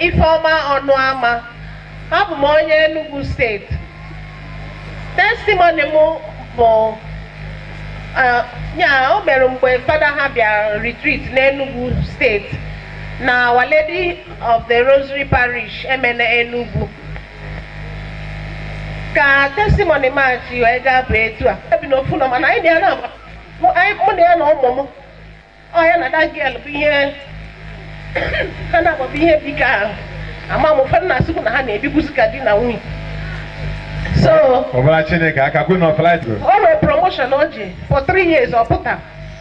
Ifeoma Ọnụama abụ m onye Enugu steeti testimoni m bụ eh, ya o mere mgbe fada ha bịara retreat n'Enugu steeti na Our Lady of the Rosary Parish, Emene Enugu. Ka testimony m a si wee gaa bụ etu a. Ebi n'ofu ụnọ mana anyị bịa na mụ anyị- mụ na ya na ụmụ m. Ọ ya na the girl bụ ihe ha na-akpọ bụ ihe dịka ahụ. Ama m ụfọdụ na-asịkwu na ha na-ebibuzi ka di na nwunye. So, kụbara Chineke aka Queen of Light. o nwere promotion o ji for three years ọ pụta.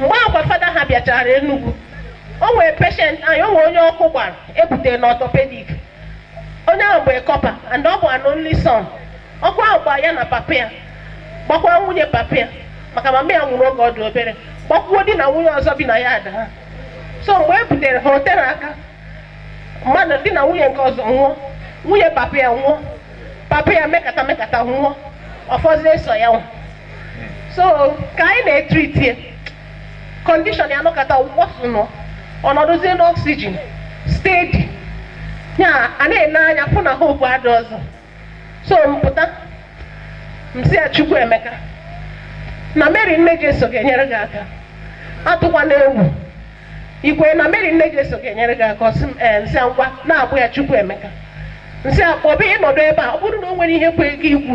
mgbe a kwa fada ha bịachara Enugu o nwere patient anyị o nwere onye ọkụ gbara e butere na orthopaedic onye ahụ bụ a corper and ọ bụ an only son ọkụ ahụ gbara ya na papa ya gbakwa nwunye papa ya maka mama ya nwụrụ oge ọ dị obere gbakwuo di na nwunye ọzọ bi na yard ha so mgbe e butere ha o tere aka mmadụ di na nwunye nke ọzọ nwụọ nwunye papa ya nwụọ papa ya mekata mekata nwụọ ọ fọzie sọ ya nwa so ka anyị na-etreat ya condition ya nọkata worsen ọ nọdụzie n'oxygen steady ya a na-ele anya fụ na hope adị ọzọ so m pụta m sị ya Chukwuemeka na mary nne jeso ga-enyere gị aka atụkwana egwu i kwe na mary nne jeso ga-enyere gị aka ọ sị m ee m sị ya ngwa na-akpọ ya Chukwuemeka m sị ya kpọba ị nọdụ ebe a ọ bụrụ na o nwere ihe kwe gị ikwu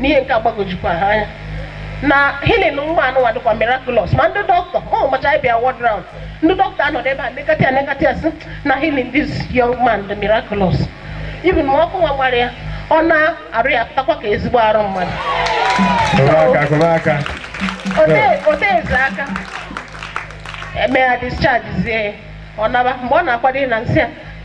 n'ihe nke a gbagojukwa ha anya na healing nwa anụnwa dịkwa miraculous ma ndị doctor e mecha bịa ward round ndị doctor anọdụ ebe a nekata ya nekata ya sị na healing this young man dị miraculous even ma ọkụ nwa gbara ya ọ naa arụ ya pụtakwa ka ezigbo arụ mmadụ kụba aka o teezie aka e mee ya discharge zie ọ naba mgbe ọ na-akwado ịna m sị ya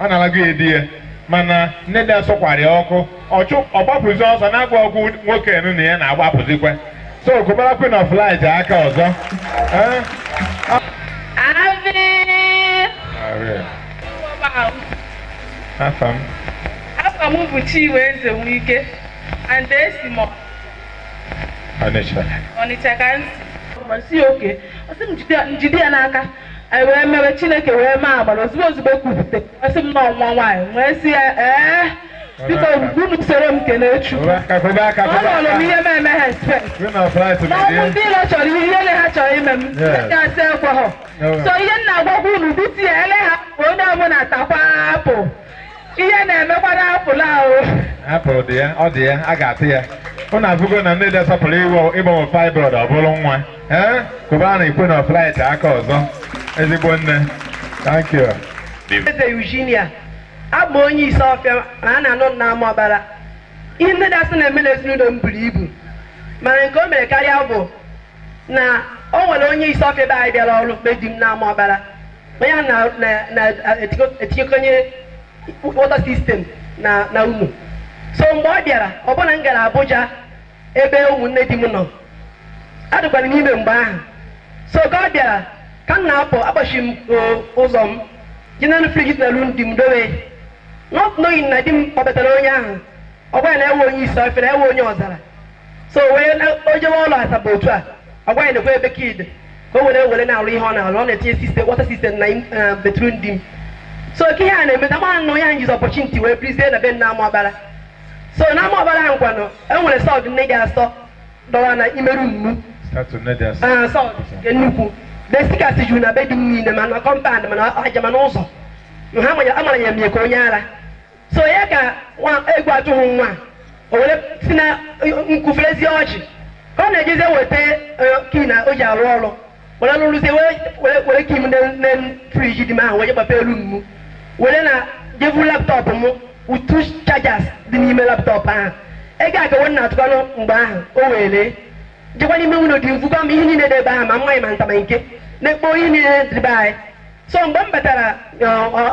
ọ na-alago ya di ya mana nne dị asọkwara ya ọkụ ọchụ ọgbapụzi ọsọ na-agwa ọgwụ nwoke enu na ya na-agbapụzikwa so kụbara Queen of Light aka ọzọ Eh? Amen. afa m Afa m bụ Chinwe Eze Nwike and esi m Ọnịcha Ọnịcha ka m si. Ma si oke, ọ sị m jide ya- m jide ya n'aka anyị wee mewe chineke wee mee agbara ozugbo ozugbo kwupụta ọ sị m na ọ nwa nwaanyị wee sị ya ee biko unu soro m kelee chukwu ọ nọrọ m ihe m eme ha expect n'ọnwụ ndị ilo chọrọ ihe ihe na ha chọrọ ime m ndị asị ekweghọ so ihe m na-agwakwa unu bute ya ele ha ka onye ọbụla takwa apụ ihe na-emekwara apụl ahụ apụl dị ya ọ dị ya a ga-atụ ya unu avụgo na nne dị asọ pụrụ iwe ịgbanwe fibroid ọ bụrụ nwa ee kụbara Queen of Light aka ọzọ ezigbo nne thank you Eze Eugenia abụ onye Isuọfịa ma a na-anụ m na ama ọbara ihe nne dị asọ na-eme na ezinụlọ m buru ibu mana nke o mere karịa bụ na o nwere onye Isuọfịa be anyị bịara ọrụ na be di m na ama ọbara onye a na- na- na- etiko- etinyekonye water system na na ụnọ so mgbe ọ bịara ọ bụ na m gara Abuja ebe ụmụnne di m nọ adịkwara m ime mgbe ahụ so ka ọ bịara ka m na-apụ akpọchi m o- ụzọ m je n'enu fridge dị na room di m dowe not knowing na di m kpọbatara onye ahụ ọ gwa ya na ọ wụ onye Isuọfịa na ọ wụ onye Ọzara so wee o jewe ọlụ Asaba otu a ọ gwa ya nekwa ebe key dị ka o were were na-alụ ihe ọ na-alụ ọ na-etinye system water system na eh, bedroom di m so ka ihe a na-eme na mara na onye ahụ jizi opportunity wee birizie na be m na ama ọbara so na ama ọbara ahụ kwanụ e nwere sword nne dị asọ dọwa n'ime room mụ Start to net us. Ah, sword nke nnukwu the stickers juru na be di m niile ma na compound ma na aja ma n'ụzọ ha manya- amara ya mie ka onye ara so ya ka nwa egwu atụghị nwa o were si na nkwụ ferezi ọjị ka ọ na-ejezi eweta eh, key na o ji arụ ọrụ were lụrụzie were- were- were key m na fridge di m ahụ wee gbapee room m were na je vu laptop m two chargers dị n'ime laptop ahụ ego akawo m na-atụkwanụ mgbe ahụ o welee jekwa n'ime ụnọ di m vukwa m ihe niile dị ebe ahụ ma mmanya ma nta ma nke na-ekpo ihe niile dị be anyị so mgbe m batara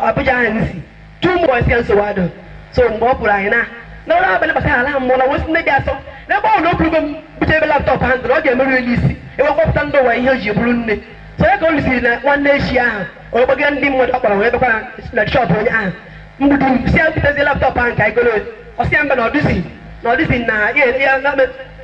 Abuja ahụ m si two months ka nsogbu adụ so mgbe ọ pụrụ anyị na n'ụra abalị bata ala ha mmụọ na m wee sị nne dị asọ n'ebe ọ na okwurugo m bute ebe laptop ahụ ndụrụ ọ ga-emerụ elu isi ebe kpọpụta ndị ụwa ihe o ji bụrụ nne so ya ka o lusiri na nwanne echi ahụ o gbagara ndị mmadụ ọ kpọrọ wee bekwara na shop onye ahụ mgbe di m sị ya butezi laptop ahụ ka anyị goro ọ sị ya mba na ọ dịzi na ọ dịzi na ya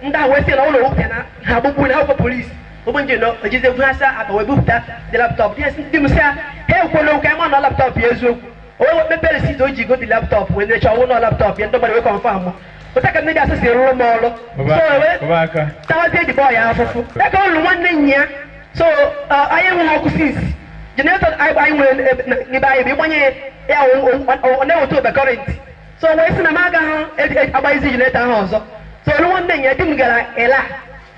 ndị ahụ wee sị na ụlọ nwoke na ha gbugbu na akwụkwọ police ụmụ nje na o jizi egwu asa akpa wee bupụta the laptop dị esi di m sị ya ha ekwuola okwu ama na laptop ya eziokwu onye wee mepee receipt o ji go the laptop wee necha ọnwụ na laptop ya ndị mmadụ wee confirm mụ otu a ka nne dị asọ si rụrụ m ọrụ so wee Kụba aka. tawazie the boy a afụfụ ya ka o lu nwanne nnyaa so uh, anyị enweghị ọkụ since generator anyị anyị nwere ebe- na- n'ebe anyị bụ ịgbanye ya o- o- o- ọ na-eweta over current so wee sị na m agaghị agbaghịzi generator ahụ ọzọ so o lu nwanne nnyaa di m gara Illah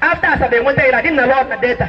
after Asaba e nweta Illah di m na-alụ na Delta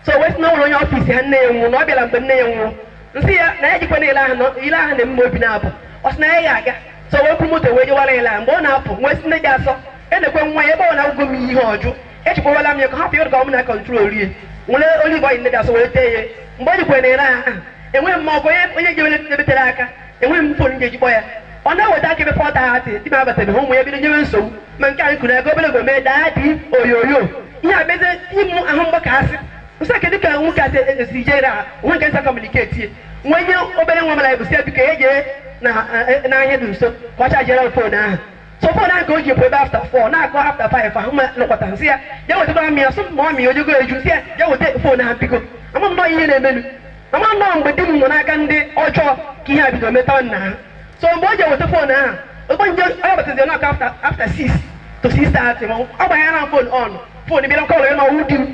so wee sị na ụlọ onye office ha nne ya nwụrụ na ọ bịara mgbe nne ya nwụrụ m sị ya na ya ejekwana Illah ahụ na Illah ahụ na-eme m obi na-apụ ọ sị na ya ga-aga so wee kpụrụ moto wee jewara Illah ahụ mgbe ọ na-apụ m wee sị nne dị asọ nekwa nwa ya ebe ọ na agwago m ihe ọ jụ echekwawala m ya ka hapụ ya ka ọ m na control rie m were olive oil nne dị asọ wee tee ya mgbe ọ jekwara na Illah ahụ amaghị m ma ọ bụ onye onye jewere ebetere aka enweghị m fon ga-eji kpọ ya ọ na-eweta aka ebe fọ tati di m abatabeghị ụmụ ya bido nyewe nsogbu ma nke anyị kwuru ego obere ego mee daa dị oyoyo ihe a mezie m ahụ mgbakasị m sị ọ kedu ka nwoke a si jere ha onwe nke nsa kọmuniketi m wee nye obere nwa mara bụ si biko ya jee n'ahịa dị nso ka ọ chajere fon ahụ so fon ahụ ka o ji epu ebe afta fọ na-akụ afta faif ahụ ma nọkọta nsị ya jee wetakwara m ya sọ ma ọ mị ojugo eju si ya jee weta fon ahụ biko ama m nnọọ ihe na-emenu m ama na mgbe di m nọ n'aka ndị ọjọọ ka ihe a bido metawa nna ha so mgbe o ji eweta fon ahụ ogbe nje onye batazi n'aka afta afta sis to sis tati ma ọ gbanye na fon on fon bịara kọlụ ya na ọ wụ di m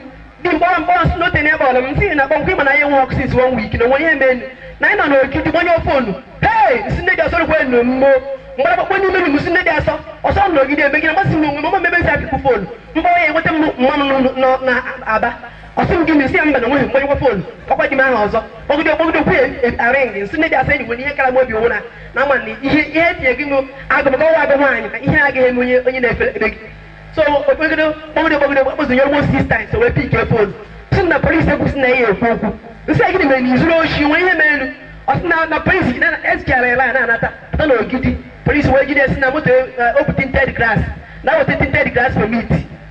di m kpọrọ m kpọrọ si n'ote n'ebe ọlụ m si na kpọmkwa ịma na ya enwe ọkụ sins wọn wik na onwe ihe menu na anyị nọ n'ogidi gbanye fonu hei m sị nne dị asọ rụkwa enu mmo m gbara gbakpọ n'ime m si nne dị asọ ọsọ n'ogidi ebe gị na masị m onwe m mama mebe nsị apịkwu fonu m kpọrọ ya enweta m mma m nọ na aba ọ sị m gịnị m sị ya mba na onweghị m gbanyekwa fon ọkwa di m aha ọzọ kpọgide kpọgide kwu arịng nsị nne dị asọ enyi nwere ihe kara m obi owu na na ama na ihe ihe etinye gị nụ agụ maka ọwa agụ nwaanyị ka ihe agaghị eme onye onye na-efe ebe gị so m kpọgide kpọgide kpọgide kpọzi nye almost sis times wee pike fon sị na polisi ekwusị na ihe ekwu okwu nsị ya gịnị mere na izuru oshi nwee ihe merenụ ọ sị na na polisi ji ya na ezichara ya laya na-anata pụta na ogidi polisi wee jide si na moto o bu tinted glass na weta tinted glass permit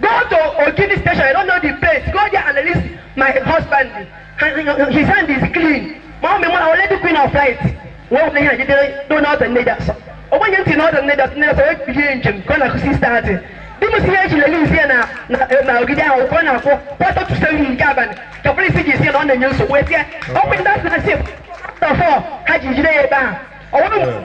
Go to Ogidi station, I don't know the place. Go there and release my husband. His hand is clean. Mummy mụ wa na Our Lady Queen of Light. Wa wona ya jidere do na ota nne dị asọ. Ogbenye ntị na ọdọ nne dị asọ ekpere njem ka ọ na-akụ 6:30. Di m si ya eji release ya na na- na ogidi ahụ ka ọ na-akụ kwata to seven nke abalị ka polisi ji si ya na ọ na-enye nsogbu etie ọkụ ndị asị na since four ha ji jide ya ebe ahụ. Ọ bụrụ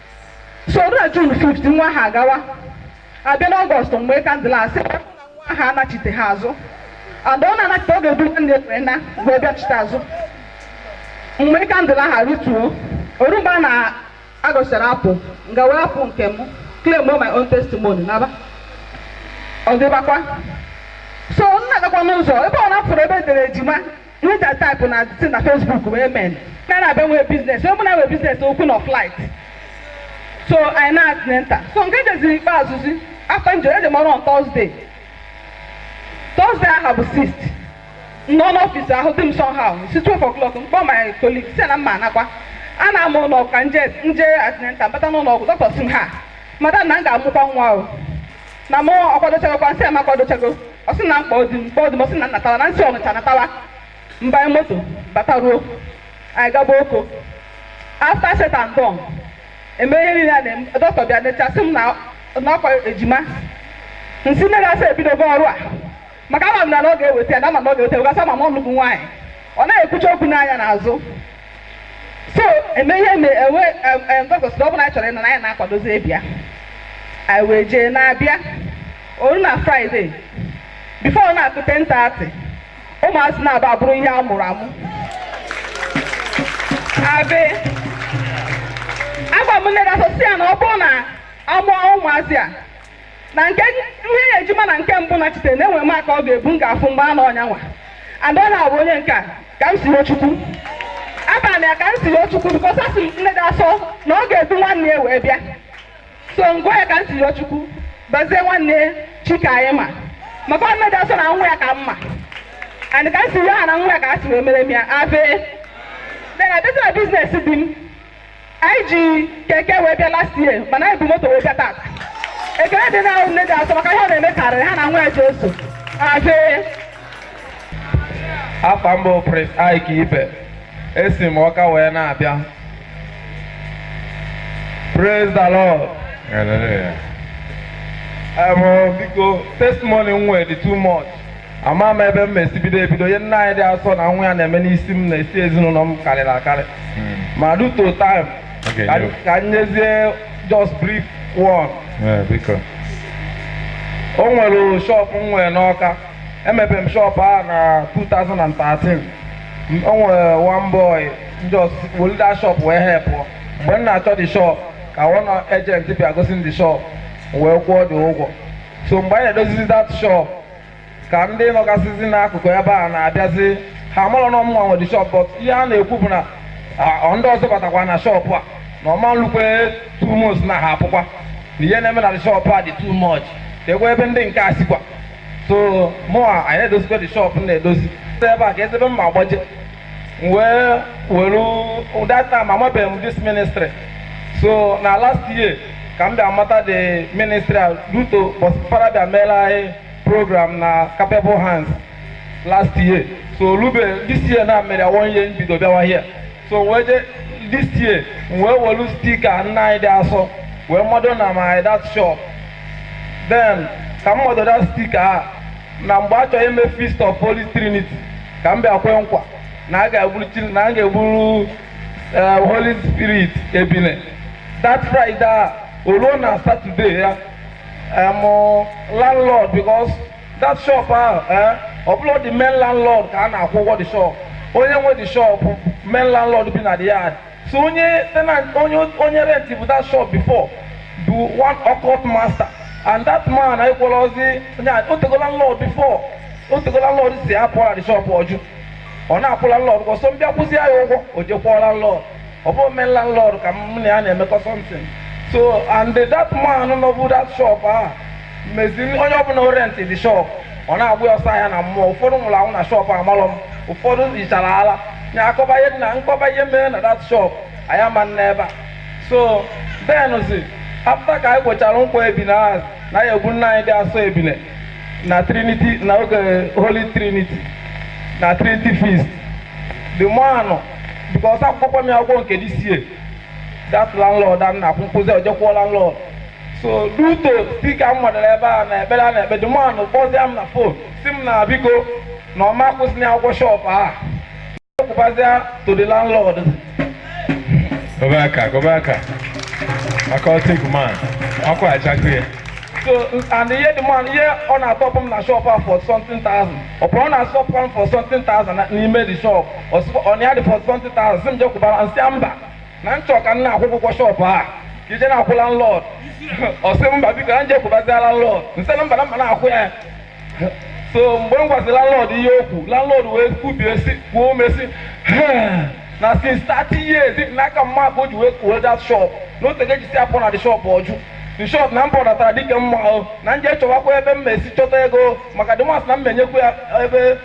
so na jun 5 nwa aha agawa abịa n'ọgọst mgbe kandụl asị nwa aha anachite ha azụ and ọ na-anachite ọ ga-ebu nwanne were na wee bịachite azụ mgbe kandụl ahụ rituo o ru mgbe a na-agọsịrị apụ nga wee apụ nke m claim my own testimony naba ọ dịbakwa so m na-agakwa n'ụzọ ebe ọ na-afụrụ ebe edere ejima Nwunye type na si na Facebook wee men ka na abịa nwee biznes onye mụna nwee biznes ọ Queen of Light so anyị na antenatal so nke jeziri ikpeazụzi afta nje eje m ọrụ on Thursday Thursday aha bụ 6th nọ n'ọfịs ahụ dị m somehow si 12 o'clock m kpọọ my colleague si na mma anakwa ana m ụlọ ọgwụ ka nje nje antenatal bata n'ụlọ ọgwụ dọkịta si m ha madam na m ga-amụkwa nwa o na mụ akwadochagokwa nsị a m akwadochago ọ sị na m kpọọ di m kpọọ di m ọ sị na nnatawa na nsị ọnịcha natawa m banye moto bata ruo anyị gaba oko afta said and done eme ihe niile a na-eme dọkịta bịa necha sị m na na ọkwa ejima nsị nne dị asọ ebidogo ọrụ a maka ama m na na ọ ga-eweta ya na ama m na ọ ga-eweta ya gasị ama m ọnụ bụ nwaanyị ọ naghị ekwucha okwu n'anya n'azụ so eme ihe me enwe dọkịta na ọ bụla anyị chọrọ ịnọ na anyị na-akwadozi ịbịa anyị wee jee na-abịa o ruo na Friday before ọ na-akụ 10:30 ụmụazị naabọ abụrụ ihe a mụrụ amụ ave agwa m nne dị asọ sị ya na ọ bụrụ na a mụọ ụmụazị a na nke ihe ya ejima na nke mbụ nachite na enwere m aka ọ ga-ebu m ga-afụ mgbe a na ọnyanwa adọla abụ onye nke a Kamsiyọchukwu abara m ya Kamsiyọchukwu because asị m nne dị asọ na ọ ga-edu nwanne ya wee bịa so m gụa ya Kamsiyọchukwu bazie nwanne Chikaanyịma maka nne dị asọ na nwa ya ka m ma and ka m si yọ ha na nwa ya ka ha si wee mere m ya ave then a bata business di m anyị ji keke wee bịa last year mana anyị bu moto wee bịa taata ekele dịrị nne dị asọ maka ihe ọ na-eme karịrị ha na nwa ya Jesu ave afa m bụ Prince Ike Ibe esi m Ọka wee na-abịa praise the lord Hallelujah. Em, biko testimony m nwere dị too much ama m ebe m ma-esi bido ebido ihe nne anyị dị asọ na nwa ya na-eme n'isi m na isi ezinụlọ m karịrị akarị hmm. ma due to time ka m nyezie just brief one o nwere shop m nwere n'Ọka emepe m shop a na 2013 o nwere one boy just welu that shop wee help mgbe m na-achọ the shop ka one agent bịa gosi m the shop wee kwụọ the ụgwọ so mgbe anyị na-edozizi that shop ka ndị nọgasịzi n'akụkụ ebe a na-abịazi ha amarọ na ọ mụnwa nwe the shop but ihe ha na-ekwu bụ na ah, ndị ọzọ batakwa na shop a na ọ ma-elukwe two months na ha apụkwa na ihe na-eme na the shop a dị too much keekwe ebe ndị nke a sikwa so mụa anyị na-edozikwa the shop m na-edozi ebe a ka ezebe mma agbaje m wee were that time amabeghị m this ministry so na last year ka m bịa mata the ministry a due to ụbọsị Fada bịa mere anyị program na capable hands last year so rube this year na mere one year m bido bịawa here so wee je this year m wee welu sticker nne anyị dị asọ wee mado na my that shop then ka m mado that sticker a na mgbe a chọrọ ime Feast of Holy Trinity ka m bịa kwee nkwa na a ga-egburu Chin- na a ga-egburu eh, Holy Spirit ebine that Friday a o ruo na Saturday ya em, landlord because that shop ahụ eh, ọ bụrọ the main landlord ka a na-akwụ ụgwọ the shop onye nwe the shop main landlord bi na the yard so onye tenant onye onye rent bụ that shop before bụ one occult master and that man anyị kwọrọ ozi onye a- o tego landlord before o tego landlord sị ya pụ na the shop ọ jụ ọ na-akwụ landlord ụgwọ so m bịa kwụzi ya ụgwọ o je kwụọ landlord ọ bụ main landlord ka m na ya na-emekọ something so and that man nọbu that shop ahụ mezi onye ọbụla rent the shop ọ na-agba ya ọsọ ahịa na mmụọ ụfọdụ nwụrụ anwụ na shop amalọ m ụfọdụ yichara ala na akọba ihe dị na m kọba ihe mere na that shop anyị ama naa ebe a so thenzi after ka anyị kpochara nkwa ebine ahụ na ya egbu nna anyị dị asọ ebine na trinity na oge holy trinity na trinity feast the man because akwụgo m ya ụgwọ nke this year that landlord a na-akwụ m kwụzi o je kwụọ landlord so due to dịka m batara ebe a na ekpere a na-ekpe the man kpọzie m na phone sị m na biko na ọ ma akwụzi na ụgwọ shop a a kwụbazia to the landlord kụbe aka kụbe aka occultic man ọkụ ajakụ ya so and ihe the man ihe ọ na-atop m na shop a four something thousand ọ pụrụ ọ na-asọpụ m four something thousand na- n'ime the shop ọ sịkwa ọ na ya dị four something thousand sị m je kwụbara m sị mba na m chọ ka m na-akwụ ụgwọ shop a ka i je na-akwụ landlord ọ sị mba biko na m je kwụbazia landlord m sị na mba na m ga na-akwụ ya so mgbe m gwasị landlord ihe o kwu landlord wee kwubie si kuo ume sị na since 30 years n'aka mma ka o ji wee kwuo that shop na o tego e ji sị ya pụ na the shop ọ jụ in short na m pụdatara dịka mma ahụ na m je chọwakwa ebe m mesi chọta ego maka dịmasị na m menyekwa ya ebe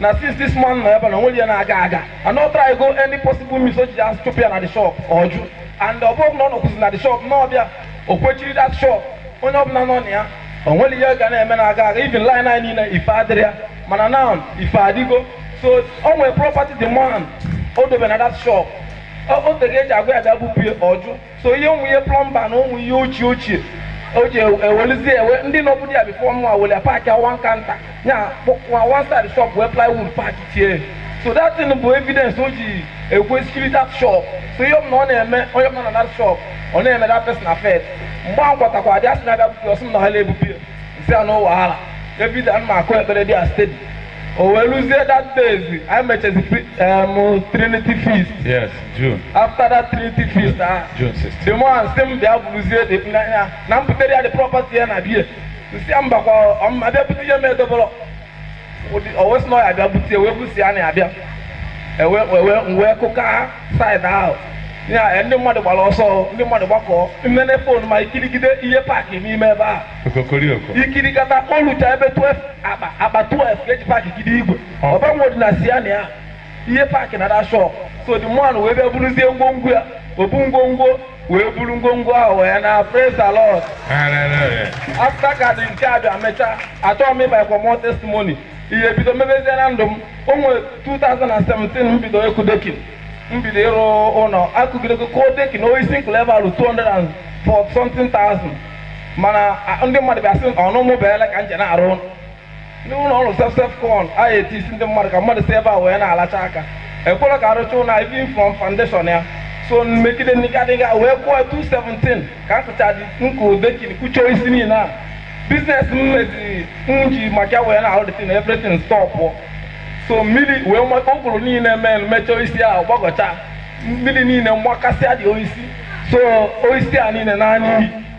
na since this man nọ ebe na o nwerọ ihe na-aga aga and ọ trygo any possible means o ji ya chụpụ ya na the shop ọ jụ and ọ bụrụ na ọ nọkwụzi na the shop na ọ bịa o kwechiri that shop onye ọbụla nọ na ya o nwerọ ihe ọ ga na-eme na aga aga even line anyị niile ife adịrọ ya mana now ife adịgo so o nwere property the man o dobe na that shop o o tego e ji agwa ya bịa bupụ ya ọ jụ so ihe ụmụ ihe plumber na ụmụ ihe ochie ochie o ji ewelizie ewe ndị nọbu dị ya before mụ awele pack ya one counter ya kpọkwa one side shop wee plywood kpachie so that thing bụ evidence o ji ekwechiri that shop so ihe ọbụla ọ na-eme onye ọbụla na that shop ọ na-eme that person affect mgbe a m gwatakwadị ya sị na ya bịa bupụ ya ọ sị m na ha na-ebupụ ya m sị ya no wahala every day m na-akụ ekpere dị a steady o wee luzie that day anyị mechezi em, trinity feast Yes. June. After that Trinity feast, ah, June 16. the man sị m bịa buruzie dị n'anya na m butere ya the property ya na be ya m sị ya mbakwa ama m bịa bute ihe m edobọrọ o wee sị na ọ ya bịa bute wee busi ya na ya bịa ewe ewe wee kụka side ahụ ya ndị mmadụ gbara ọsọ ndị mmadụ gbakọọ mmene phone ma e kirigide ihe pack n'ime ebe a Okokorioko. e kirikata o luchaa ebe 12 akpa akpa 12 e ji packgide igwe Ọ. ọbanwe dị na siana ya ihe paakị na another shọp so the man wee bịa buruzie ngwongwo ya obu ngwongwo wee buru ngwongwo ahụ wee naa praise the lord afta ka dị nke a bịa mechaa achọghị m ịgbakwa more testimony ihe bido mebezie na ndụ m o nwere 2017 m bido ịkụ dekin m bido ịrụ ụlọ akụgidego kụọ dekin osisi m kụlụ ebe ahụ 200 forty something thousand mana a- ndị mmadụ bịa sị ọnụ mụ beela ka m je na-arụ ụlọ ndị ụlọ ọrụ self self con anyị eti isi ndị mmadụ ka mmadụ si ebe a wee na-alacha aka ekwere ka arụcha ụlọ anyị bin from foundation ya so megide nnikadịga wee kwụọ 217 ka asụcha dị nkụ dekin kụchie osisi niile a biznes m meziri m ji maka ya wee na-arụ dịtin everything stọpụ so mmiri wee maka ụkpụrụ niile mee mechaa osisi ahụ gbagọcha mmiri niile mgbakasịa dị osisi so osisi a niile naa n'iyi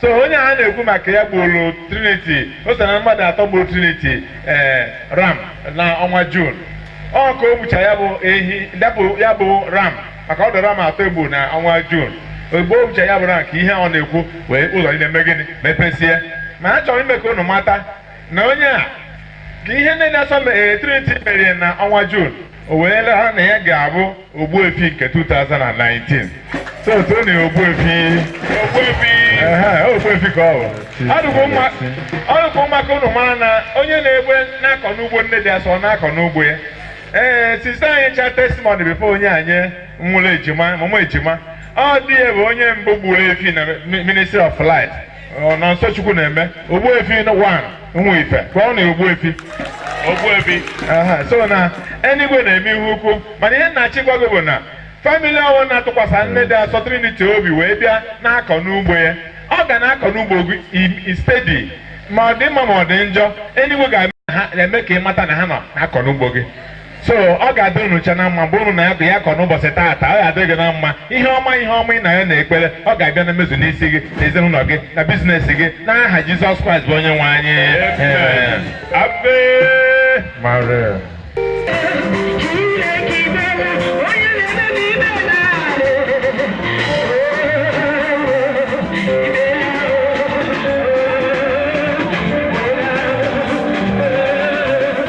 so onye a na-ekwu maka ya gburu triniti o so na mmadụ atọ gburu triniti ee ram na ọnwa jun ọ ka o gbucha ya bụ ehi dapụ ya bụ ram maka ọ dụ ram atọ e gbu na ọnwa jun ozugbo o gbucha ya bụ ram ka ihe ọ na-ekwu wee ụzọ niile mee gịnị mepesie ma a chọrọ ime ka unu mata na onye a ka ihe nne dị asọ Trinity merie na ọnwa Jun o wee laa na ya ga-abụ Ogbuefi nke 2019 so tuonụ ya Ogbuefi Ogbuefi ehe, Ogbuefi ka ọ bụ ọ dụkwa mma ọ dụkwa mma ka unu mara na onye na-egbe na-akọ n'ugbo nne dị asọ na-akọ n'ugbo ya ee sista anyị cha testimony bifo onye anyị nwụrụ ejima mụmụ ejima ọ di ya bụ onye mbụ gburu efi na Mi- ministry of light Ọ Nọnsọ Chukwunaeme Ogbuefi na wan nwa ife ka ọ na Ogbuefi Ogbuefi aha so na enigwe na-eme ihe ukwu mana ihe m na-achọ ịgwa gị bụ na famili ọwụna tụkwasị nne dị asọ triniti obi wee bịa na-akọ n'ugbo ya ọ ga na-akọ n'ugbo gị i- i stedi ma ọ dị mma ma ọ dị njọ enigwe ga-eme ha- eme ka ị mata na ha nọ na-akọ n'ugbo gị so ọ ga-adị unu cha na mma mgbe unu na ya ya kọ n'ụbọchị taata ọ ga-adị gị na mma ihe ọma ihe ọma ị na-ayọ n'ekpere ọ ga-abịa na mmezu n'isi gị na ezinụlọ gị na biznes gị n'aha Jizọs Kraịst bụ onye nwe anyị Ave Maria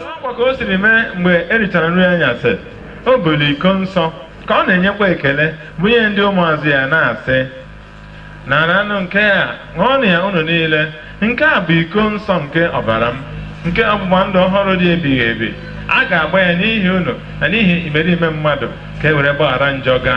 N'ọkwa ka o siri mee mgbe e richara nri anyasị, o buru iko nsọ ka ọ na-enyekwa ekele bunye ndị ụmụazụ ya na-asị, Naranụ nke a, ṅụọnụ ya unu niile, nke a bụ iko nsọ nke ọbara m, nke ọgbụgba ndụ ọhụrụ dị ebighị ebi, a ga-agba ya n'ihi unu na n'ihi imerime mmadụ ka e were gbaghara njọ ga.